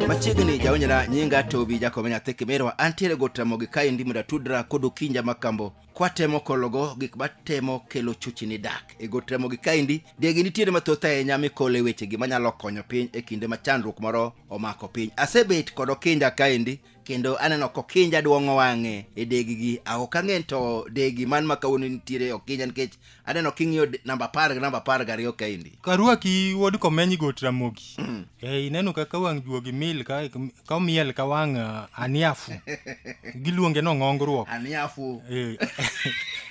machiegni jaonyera nyinga tobi jakomenya thekemerwa antiere gotamogi ka endi mondo atudra kod okinja makambo kwatemo kologo gik matemo kelo chuchi ni dak e gotamogi ka endi degi nitiere mathoth ahinya mikole wechegi manyalo konyo piny e kinde ma chandruok moro omako piny asebet kod okinja ka endi kendo aneno kokinja duong'o wang'e e degigi ah, ok ang'e to degi man ma kawuono nitiere okinja nikech aneno king'iyo de- namba apar gi namba apar gariyo kaendi karwaki wuod komeny got ramogi e ineno kaka wang' juogi mil ka ka omiel ka wang' ah, aniafu giluonge no ng'ongruok aniafu Eh,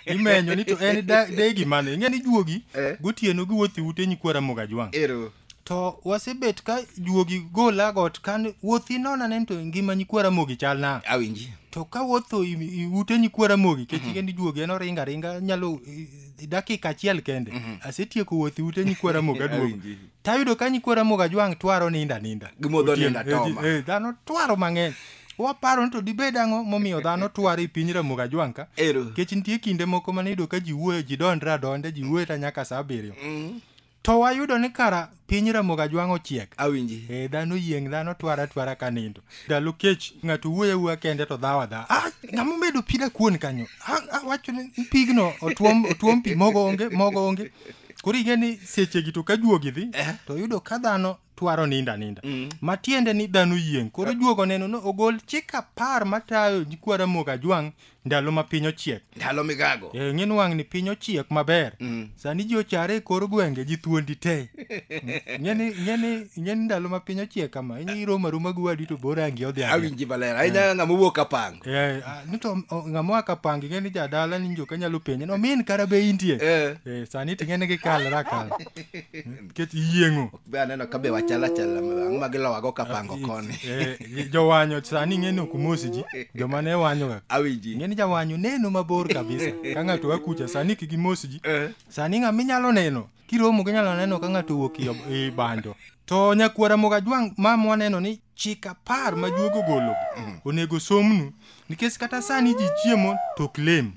imenyo ni to en da- degi mane ing'e ni juogi Eh. gotieno giwuotho e ute nyikwa ramogi ajwang' ero to wasebet ka juogi gola got kan wuothi nona nen to ngima nyikwara mogi chal na awinji to ka wuotho i- i- ute nyikwara mogi kech mm-hmm. kendi juogi en oringa ringa nyalo i- i- dakika achiel kende mm-hmm. asetieko wuothi ute nyikwara mogi aduogo Awinji. tayudo ka nyikwara mogi ajwang' twaro ninda ninda Gimodho Otieno, ninda eh, ji- toma. eh, dhano twaro mang'eny waparo ni to dibed ang'o momiyo dhano twaro e piny ramogi ajwang' ka Ero. kech nitie kinde moko mane iyudo ka ji wuoyo ji dondre adonda ji wuoyo ta nyaka sa abiriyo To wayudo ni kara piny Ramogi Ajwang' ochiek. Awinji. Eh, dhano yieng' dhano twara atwara ka nindo. Ndalo kech ng'ato wuoyo awuoya kende to dhawa dha. Ah, ng'ama omedo pi da kuon kanyo. Ah, ah, wacho ni pigno otuom otuom pi mogo onge mogo onge. Koro ing'e ni sechegi to ka juogi dhi to yudo ka dhano twaro ninda ninda mm. matiende ni dhano yieng koro eh. juogo neno no ogol chik apar matayo kwara mok ajwang ndalo ma piny ochiek ndalo migago e, ng'in wang' ni piny ochiek maber mm. sani ji ochare e kor gwenge ji thuondi te ng'eni ndalo ma piny ochiek kama inyi roma roma gi wadi to bor angi odhi awinji maler ahinya eh. ng'ama owuok kapang e, nito ng'ama oa kapang ing'eni jadala ni joka nyalo penye no min kara be intie e. e, sani ting'eni gikalra kal nikech iyieng'o ok be aneno ka be wachal achal ang'o ma gilowago kapango koni Eh, eh, jowanyo sani ing'e ni ok umosi ji joma ne wanyoga awinji ing'e ni jawanyo neno mabor kabisa ka ng'ato akucha sani kik imosi ji Eh. sani ng'ama inyalo neno kiromo ginyalo neno ka ng'ato owuok i- i banjo to nyakwara mogajwang' ma mwaneno ni chik apar ma juogi ogologi onego osomnu nikech kata sani ji chiemo to ok lem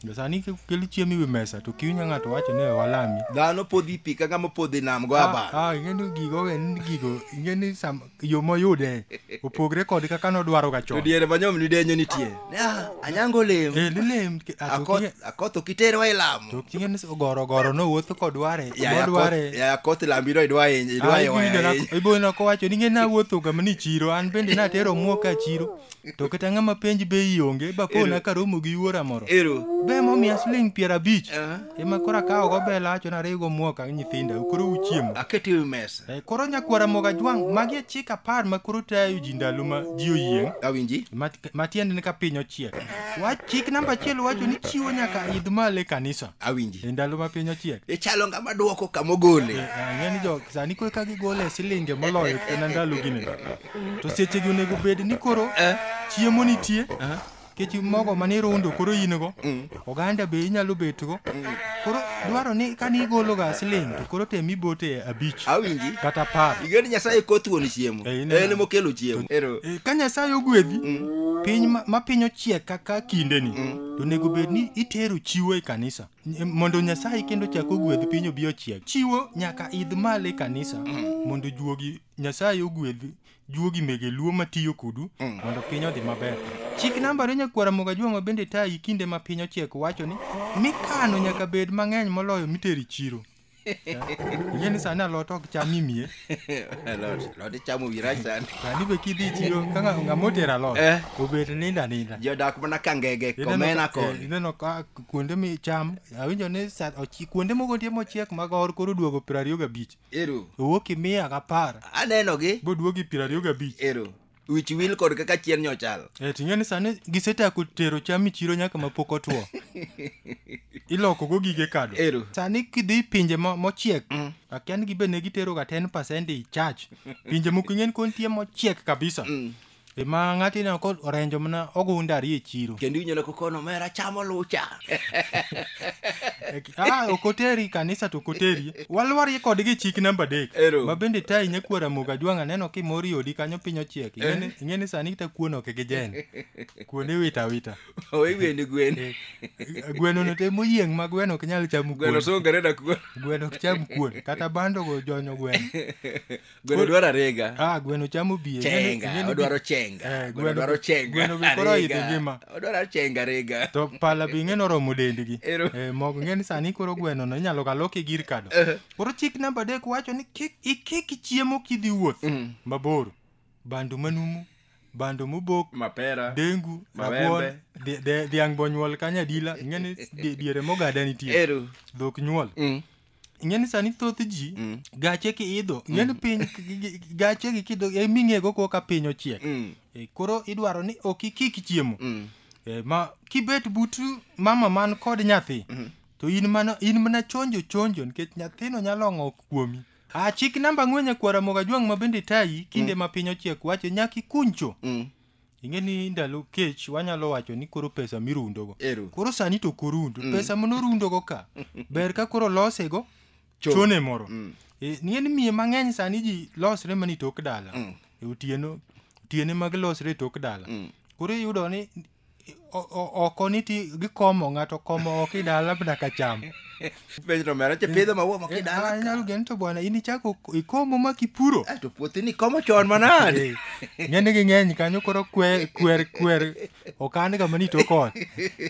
Jo sani kelo chiemo iwi mesa to kiwinyo ng'ato wacho ni "We walami dhano podhi pi kaka mopodhi nam go abal Ah, ah, ing'eni gigo en gigo ing'eni sam- yo moyude opogre kod kaka nodwaroga chon to diere manyom ni denyo nitie Ah, anyango olem Eh, lilem ki- ah, to king'e- Akoth- akoth okiterwa e lamo to king'e ni ogoro ogoro nowuotho kodware Yaya Akoth- modware yaya akoth lambiro idwa hinyo- idwa hiwa ahinya. iboyona kowacho ni ng'e nawuothoga mani chiro an bende natero muoka e chiro to kata ng'ama penj be ionge bakona karomo gi yuora moro ero be momiya siling piero abich Ah. ema koro akawogo bela acho nariwgo muoka gi nyithinda koro uchiemo aket ewi mesa Eh, koro nyakwara moga jwang' magi e chik apar ma koro tayo ji ndalo ma ji oyieng' awinji ma matiende ni ka piny ochiek wach chik namba achiel wacho ni chiwo nyaka idh malo e kanisa awinji e ndalo ma piny ochiek ichalo ng'ama dwoko kama ogole Eh, ang'e ni jo sani kwe ka gigole silinge moloyo kena ndalo gine to sechegi onego bed ni koro chiemo nitie kech mogo mani rundo koro in go oganda be inyalo betgo koro dwaro ni kane igologa siling to koro tem ibote abich awinji kata par igeni nyasaye koth wuon chiemo Eh, ineno. en mokelo chiemo ero Eh, ka nyasaye ogwedhi piny ma- ma piny ochiek kaka kindeni to onego bed ni itero chiwo e kanisa Ny- mondo nyasaye kendo chak ogwedh piny obi ochiek chiwo nyaka idh malo e kanisa mondo juogi Nyasaye ogwedh juogi mege luo matiyo kudu mm. mondo piny odhi maber. Chik namba re nyakwara moga jwang'o bende tayi kinde ma piny ochiek wacho ni mikano nyaka bed mang'eny moloyo miteri chiro. Ing'e ni sani alot ok cham imie. Alot, alot ichamo wi rach sani. Sani be kidhi chiro ka ng'ama otero alot, eh. obet ninda ninda. Jodak mana ka ngege, komena eh, koni. Ineno ka kuonde micham, awinjo ni kuonde moko nitie mochiek mag or koro duogo piero ariyo gabich. ero owuok i mia gapar anenogi boduogi piero ariyo gabich ero wich wil kod kaka chien nyochal e ting'e ni sani gisechako tero cham e chiro nyaka ma pok otwo ilokogo gige kado ero sani kidhi i pinje mo- mochiek akia ni gibed ne giteroga 10 pasent i chach pinje moko ing'e ni koro nitie mochiek kabisa Ema ng'ati na ko orenjo mana ogunda ari e chiro. Kendo inyalo kokono mera chamo lucha. ah, okoteri kanisa to okoteri. Walwar ye kodgi chik namba dek. Ero. Ma bende tai nyakwara moga jwanga neno ki mori odi kanyo pinyo chiek. Ingene ingene sani ta kuono ke gejen. Kuone wita wita. Owe gwene gwene. Gweno no te moyieng ma gweno ok nyal chamo kuon. Gweno songere na kuon. Gweno ok cham kuon kata bando go jonyo gweno. gweno dwaro arega ah gweno chamo biye chenga odwaro chenga eh, gweno dwaro chenga gweno be koro idhi ngima odwaro chenga rega to pala bi ng'eno romo dendgi eh, mok ng'eni sani koro gweno no inyalo kaloki gir kado eh. koro chik namba adek wacho ni kik ikik chiemo kidhi wuoth mm. mabor bandu manumu bando mobok mapera dengu rabuon dhiang' bonyuol kanya dila ing'eni diere mogada nitie dhok nyuol mm. ing'e ni sani thoth ji Mm. gache kiidho ing'e ni piny k- gi- gi- gache gi kido e ming'ego ko ka piny ochiek Mm. E, koro idwaro ni ok ikik chiemo Mm. E, ma kibet but mama man kod nyathi to in mana in mana chonjo chonjo nikech nyathino nyalo ng'ok kuomi a chik namba ang'wen nyakwara moga jwang' ma bende tayi kinde ma piny ochiek wacho nyaka ikuncho Mm. ing'e ni ndalo kech wanyalo wacho ni koro pesa mirundogo Ero. koro sani to korund mm. pesa monorundogo ka ber ka koro losego Chon. chone moro mm. e, ing'e ni miye mang'eny sani ji losre mani tok dala mm. e, otieno otiene mag losre e tok dala mm. koro iyudo ni O- o- oko ni ti gikomo ng'ato komo oko i dala mana ka cham penjo to mera che pidho maua moko Eh, ah, inyalo idala geno to bwana in ichako ikomo ma kipuro to puothi ni komo chon manade Eh, ng'eni ging'eny kanyo koro kwer kwer kwer okan ga mani to kod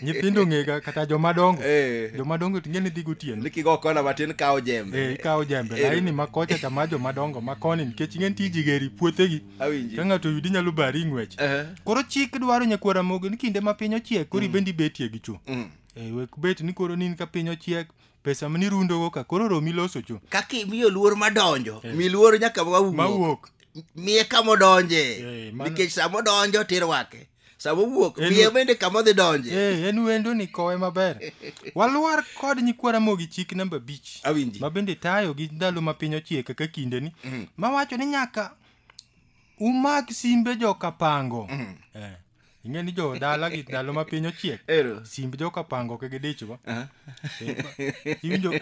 nyithindo ng'ega kata jomadongo Eh. jomadongo to ng'eni dhi gotieno ni kigo kona matin kawo jembe Eh, ikawo jembe Eh. laini ma kocha cha ma jomadongo ma koni nikech ing'eni tiji geri puothegi Awinji. ka ng'ato oyudi nyalo bari ng'wech Eh. koro chik dwaro nyakwar ramogi ni kinde ma piny ochiek koro ibendi betie gi cho Mm. Eh, wek bet ni koro nin ka piny ochiek pesa ma nirundogo ka koro romi loso cho kaka imiyo luor madonjo mi luor nyaka mawuok mawuok miye kamodonje Eh, mano- nikech samodonjo tirwake sama owuok En- wiye bende kama odhi donje Eh, en wendo ni kowe maber walwar kod nyikwa ramogi chik namba abich awinji ma bende tayo gi ndalo ma piny ochie kaka kindeni Mhm. ma wacho ni nyaka umak simbe jokapango Mhm. Eh, ing'e ni jo dala gi ndalo ma piny ochiek ero simb jokapango ok gidichgo Aha. iwinjo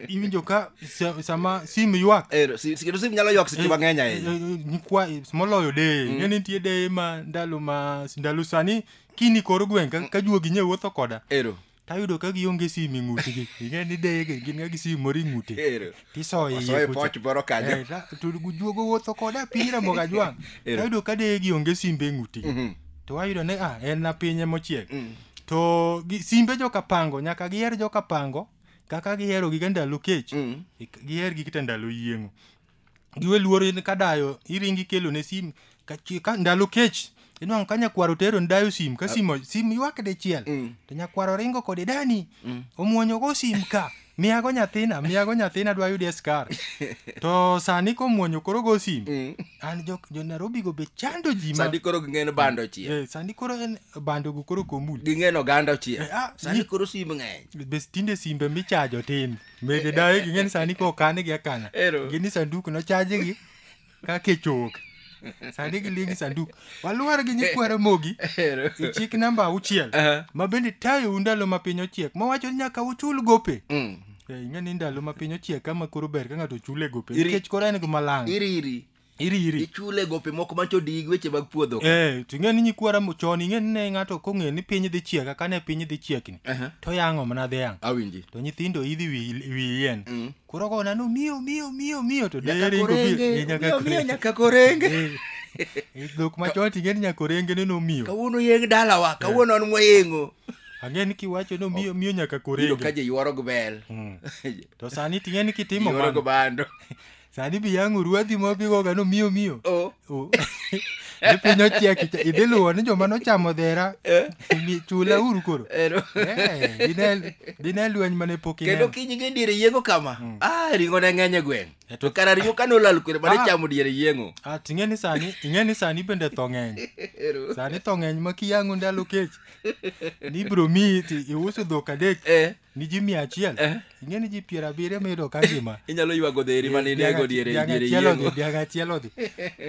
iwinjo ka sa- sama sim ywak Eh, si- si- kendo sim nyalo ywak seche mang'eny ahinya nikwa moloyo deye mm. nitie deye ma ndalo ma ndalo sani kini kor gweng' ka, ka juogi nye wuotho koda ero tayudo ka gionge sim e ng'utgi ing'e ni deye gi- gin ga gi sim moro e ng'ute ero tisoye osoyo iye kucha. poch moro kanyo Eh, ta- to juogo wuotho koda piny ramogo ajwang' Ero. tayudo ka deye gionge simbe e ng'utgi Mhm. to wayudo ni ah en na pinye mochiek Mm. to gi- simbe joka pango nyaka giher joka pango kaka gihero giga ndalo kech Mm. ik- giher gi kita ndalo yieng'o giwe luoro in ka dayo iringi kelo ne sim ka, chi- ka ndalo kech inwang'o ka nyakwaro tero ni dayo sim ka simo sim ywak dichiel Mm. to nyakwaro ringo kode dani omwonyogo sim ka miyago nyathina miyago nyathina dwa yudi e skar to sani komwonyo koro go sim Mm. an jo, jo nairobi go be chando ji ma sani koro ging'en bando chiel Eh, sani koro en bando go koro komul ging'en oganda chiel Eh, ah, sani ni- koro sim ng'eny be tinde simbe michajo tin mede dawe ging'eni sani ko kanigi akana Ero. gini sanduk nochajigi ka kech owuok sani giliengi sanduk walwar gi nyikwa ramogi Ero. e chik namba auchiel Aha. ma bende tayou ndalo ma piny ochiek mawacho ni nyaka uchul gope Mm. Eh, ing'e ni ndalo ma piny ochiek kama koro ber ka ng'ato chule gope Iri- nikech koro en gima lang iri iri iri iri ichule gope moko mancho dig weche mag puodho ka. Eh, to ing'e ni nyikwa ramo chon ing'e ni ne ng'ato kong'e ni piny dhi chiek aka ne piny dhi chiekni Aha. to yang'o mana dhi yang' awinji to nyithindo idhi wi wi yien Mm. koro go nanu miyo miyo miyo miyo to Nyaka dakaringo korenge, miyo nyaka miyo, miyo korenge nyaka korenge Eh, dhok machon ting'e ni nyakorenge ne nomiyo kawuono yeng dalawa kawuono an mwayengo ang'e ni kiwacho ni miyo miyo nyaka iyudo ka korenge ji yworo gi bel Mm. to sani ting'e ni kitimo yworo gi mano bando sani bi yang'o ruadhi ma bigoga no miyo miyo o O- ni piny ochiek icha- idhi luwo ni joma nochamo dhera mi- chula uru koro Ero. Eh, dine- dine lweny mane pok kendo ineno kiny gi diere yiengo kama ah ringo ne ng'eny e gweng' E to to- kara ringo kane olal kwere mane Ah. chamo diere yiengo Ah, to ing'e ni sani ing'e ni sani bende tho ng'eny Ero. sani tho ng'eny ma kiyang'o ndalo kech ni ibro miyi ti iuso dhok adek Eh. ni ji mia achiel Eh. ing'e ni ji piero abiriyo miyudo ka ngima inyalo ywago dheri ma ninego diere Dhiang' diere achiel odhi, yiengo dhiang' achiel odhi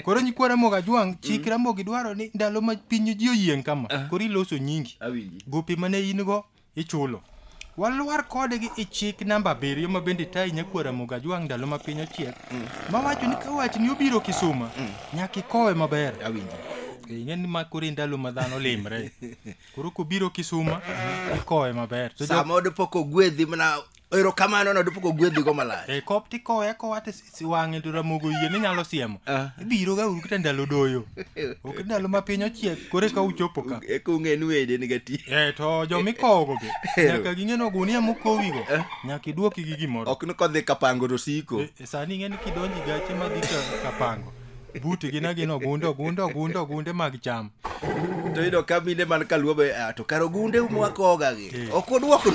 koro nyikwa ramogi ajwang' chik ramogi dwaro ni ndalo ma piny ji oyieng' kama koro iloso nyingi awinji gopi mane in go ichulo walwar kodgi i chik namba abiriyo ma bende tayi nyakwa ramogi ajwang' ndalo ma piny ochiek mawacho ni ka watni obiro kisuma nyaka ikowe maber awinji ing'e ni ma koro e ndalo ma dhano limre koro kobiro kisuma ikowe maber to jo- sama odipoko gwedhi mana erokamano no odipoko gwedhi go malach e kop tikowe akowa to si- si- wang'e to ramogo yie ni nyalo siemo Ah. ibiro ga uru kata ndalo doyo ok ndalo ma piny ochiek kore ka uchopo ka eka ung'e ni wede ni gati e to jomikowogo be Ero. nyaka ging'e ni ogunia mokowigo nyaka idwoki gi gimoro ok ni kodhi kapango to siko E- e sani ing'e ni kidonji gache madhi ka- kapango buti gin agina ogunde ogunde ogunde ogunde mag cham to yudo ka mine man kaluo be ah, to kar ogunde mwakoga gi Eh. ok odwoko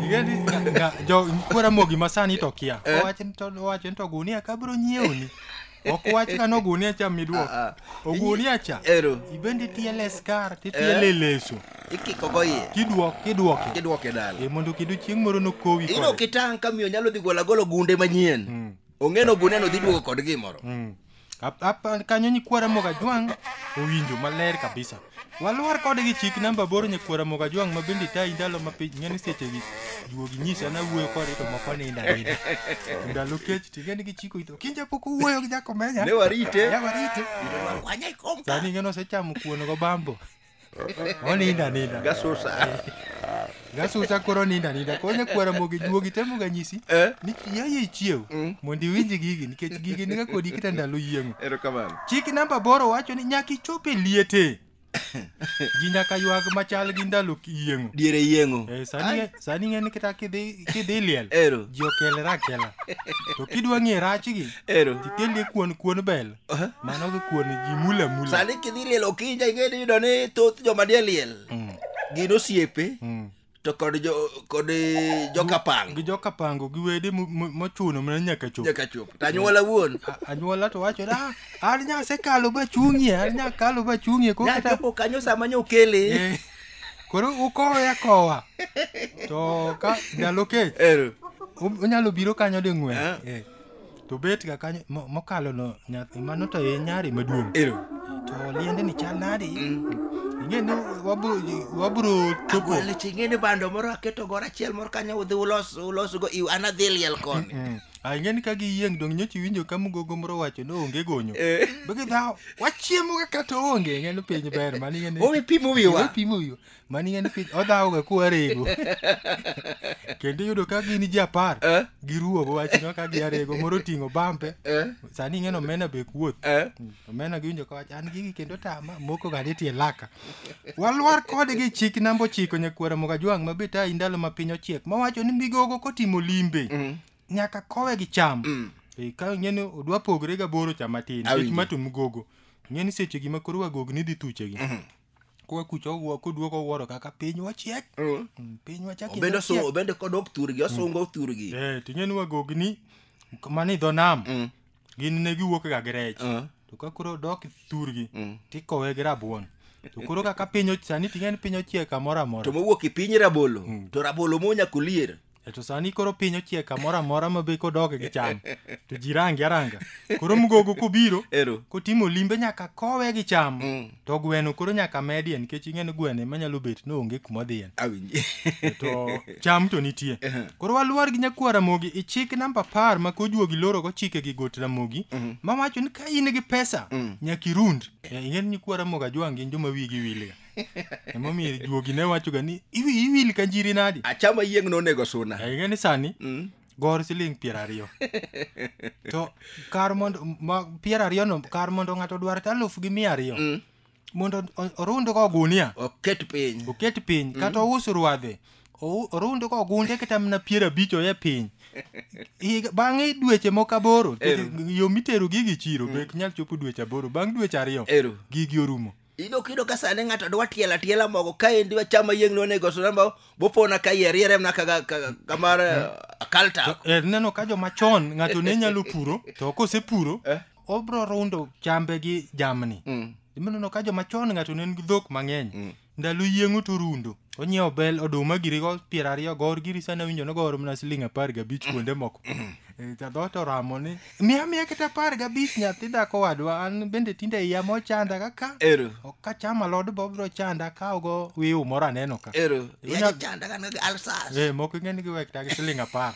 Igendi nga- nga- jo kwera mogi masani to kia Eh. owacho ni to owacho ni to gunia kabro nyiewni ok wach ka no gunia cha midwok Ah, ah. ogunia cha Ero. ibendi tiele skar titiele leso ikikogo iye kidwok kidwoke kidwoke dala e mondo kidu chieng' moro nokowi ino kode. kitang' ka miyo nyalo dhi golo agolo gunde manyien Mm. ong'eno guneno dhi duogo kod gimoro Mm. Ap- ap- kanyo nyikwara mogajwang' owinjo maler kabisa walwar kode gi chik namba aboro nyikwara mogajwang' ma bende tayi ndalo ma piny ng'eni sechegi juogi nyisa nawuoyo kode to moko ninda ninda To ndalo kech ting'eni gichiko ito kinja pok owuoyo gi jakomenya ne warite Ya warite. Wanyai kom ka. sani ng'eno osechamo kuon go bambo Oninda ninda. Gasusa. Gasusa koro ninda ninda. Koro ne kwara mogi juogi temo ga nyisi. Eh? Ni yaye ichiew. Mm. Mondi winji gigi nikech gigi niga kodi kita ndalo yieng'o. Erokamano. Chik namba boro wacho ni nyaki chope liete. Ji nyaka ywag machal gi ndalo yieng'o. Diere yieng'o. Eh, sani sani ing'e ni kata kidhi kidhi liel Ero. ji okelre akela to kidwa ng'e rachgi Ero. tikelni kuon kuon bel Aha. mano gi kuon ji mula mula sani kidhi liel okinja ing'e ni yudo ni thoth joma nie liel Mm, gin osiepe mm. to kod jo kod eh, jokapang gi joka pango gi wede mo- mo- mochuno mana nyaka chop nyaka chop to anyuola wuon A- anyuola to wacho da an nyasekalo bachung'ie an nyakalo bachung'ie ko kata nyachopo kanyo sama nyokele Eh. koro ukowe akowa to ka ndalo kech Ero. um- unyalo biro kanyo ding'wen Ah. Eh, to bet ga kanyo mo- mokalo no nyathi mano to e nyari maduong' Ero. to liende ni chal nadi ing'e ni wabro wabro chopo Agwale ching'e ni bando moro aketo gora achiel moro kanyo udhi ulos ulos go iw an adhi liel koni. Mm. Ah, ing'eni ka giyieng' dong' nyocha iwinjo ka mugogo moro wacho ni onge gonyo. Eh. Bege dhawo, wachiemo ga kata onge, ing'eni piny ber, mano ing'eni- Owe pimo Owe wiwa. pimo wiwa. Mano ing'eni piny, odhawo ga kuwa rego. Kendo iyudo ka gin ji apar, Eh. giruwogo wachno ka gia rego, moro oting'o bampe. Eh. Sani ing'eni omena be kuoth. Eh. Omena giwinjo ka wacho, an gigi kendo tama, moko ga nitie laka. Walwar kode gi chik namba ochiko nyakwara Mogajwang' ma bet ayi ndalo ma piny ochiek mowacho ni migogo kotimo limbe Mm. nyaka kowe gi cham. Mm. Eh, Ka ing'e ni odwa pogre gaboro cha matin Awinjo. nikech ma to migogo. Ing'e ni seche gi ma koro wagog ni dhi thuchegi. Mhm. Kowa kucha owuo koduogo owuoro kaka piny wachiek. Mm. Mm, Piny wachak obende ochiek. osu- obende kodok thurgi osungo thurgi Eh, ting'e ni wagogni mani dho nam Mm. gin ne giwuok ga gi rech Ah. to ka koro dok thurgi Mm. tikowe gi rabuon to koro kaka piny och- sani ting'e ni piny ochiek kamoro to amora mowuok e piny rabolo Mm. to rabolo monya kulier E to sani koro piny ochiek kamoro amora ma be kodok gi cham to ji rangi aranga koro mgogo kobiro ero kotimo limbe nyaka kowe gi cham Mm. to gweno koro nyaka medie nikech ing'e ni gweno ema nyalo bet ni onge kuma odhiye awinji to cham to nitie koro waluor gi nyakwar ramogi ichik namba apar ma kojuogi lorogo chike gi got ramogi ma wacho ni ka in gi pesa nyaka irund Eh, ing'e ni nyakwar ramogi ajwang' gin joma wigi wilga emomiyo juogi ne wachoga ni "Iwi- iwil ka njiri nadi achama yieng' nonego suna Eh, ing'e ni sani gor siling piero ariyo to kar mondo ma- piero ariyono kar mondo ng'ato odwar ta aluf gi mia ariyo Mm. mondo o- orundgo ogunia oket piny oket piny kata ous ruadhe ou- orundgo ogunde kata mana piero abich oye piny Higa- bang'e dweche moko aboro Eru. yo mitero gigi chiro be ok nyal chopo dweche aboro bang' dweche ariyo eru gigi orumo Ino kido ka sani ng'ato dwa tielo atiela mogo ka endi wachama yieng' ni onego suna ma bopona ka yier yiere mna kaga kaga- kamar eh, kalta. Eh, neno ka joma chon ng'ato ne nyalo puro to kosepuro Eh. obro rundo chambe gi jamni Mm. imeneno ka joma chon ng'ato ne nigi dhok mang'eny ndalo yieng'o to rundo Onyiewo bel oduma girigo piero ariyo gor giri sani awinjo nogoro mana siling' apar gabich kuonde moko. Eh, Jadhoot oramo ni miya miya kata apar gabich nyathi dhako wadwa an bende tinde iya mochanda kaka Ero. ok kacham alod bo biro chanda akawogo wiu moro aneno ka. Ero. Inya- Yaja chanda kan gi alsas. Eh, moko ing'e ni giwek ta gi siling' apar.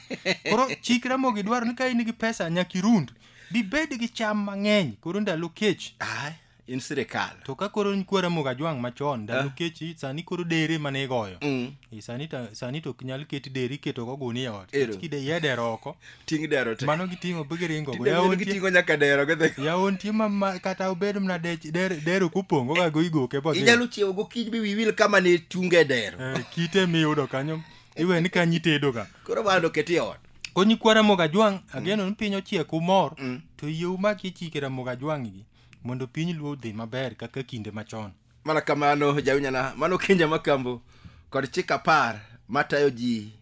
Koro chikre mogi dwaro ni ka in gi pesa nyaka irund. Bibed gi cham mang'eny koro ndalo kech. Ai. in sirikal to ka koro nikwa ramogi ajwang' machon ndalo Eh. kechi sani koro dere mane igoyo Mm. Eh, sani ta- sani to ok nyal keti deri iketo go guni e ot Ero. kide ye dero oko ting' dero te mano giting'o be giringo go Tinde yawon tie- giting'o nyaka dero gidhi yawon tie ma- ma kata obed mna dech- der- dero kupongo ga go igoke bo inyalo chiewo gokinyi bi wiwil kama ne chunge dero kite miyudo kanyo iwe ni kanyo itedoga koro bando oketi e ot konyi kwa ramogi ajwang' ageno ni piny ochiek umor Mm. to yie umaki chike ramogi ajwang' gi mondo piny luo odhi maber kaka kinde machon mana kamano jawinyana mano kinja makambo kod chik apar matayo ji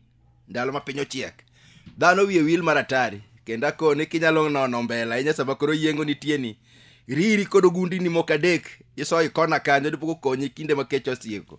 ndalo ma piny ochiek dhano wiye wil mar atari kendo akoni kinyalo nono mbele ahinya sama koro yiengo nitieni riri kod ogundini moko adek isoyi kona kanyo dipok okonyi kinde ma kech osieko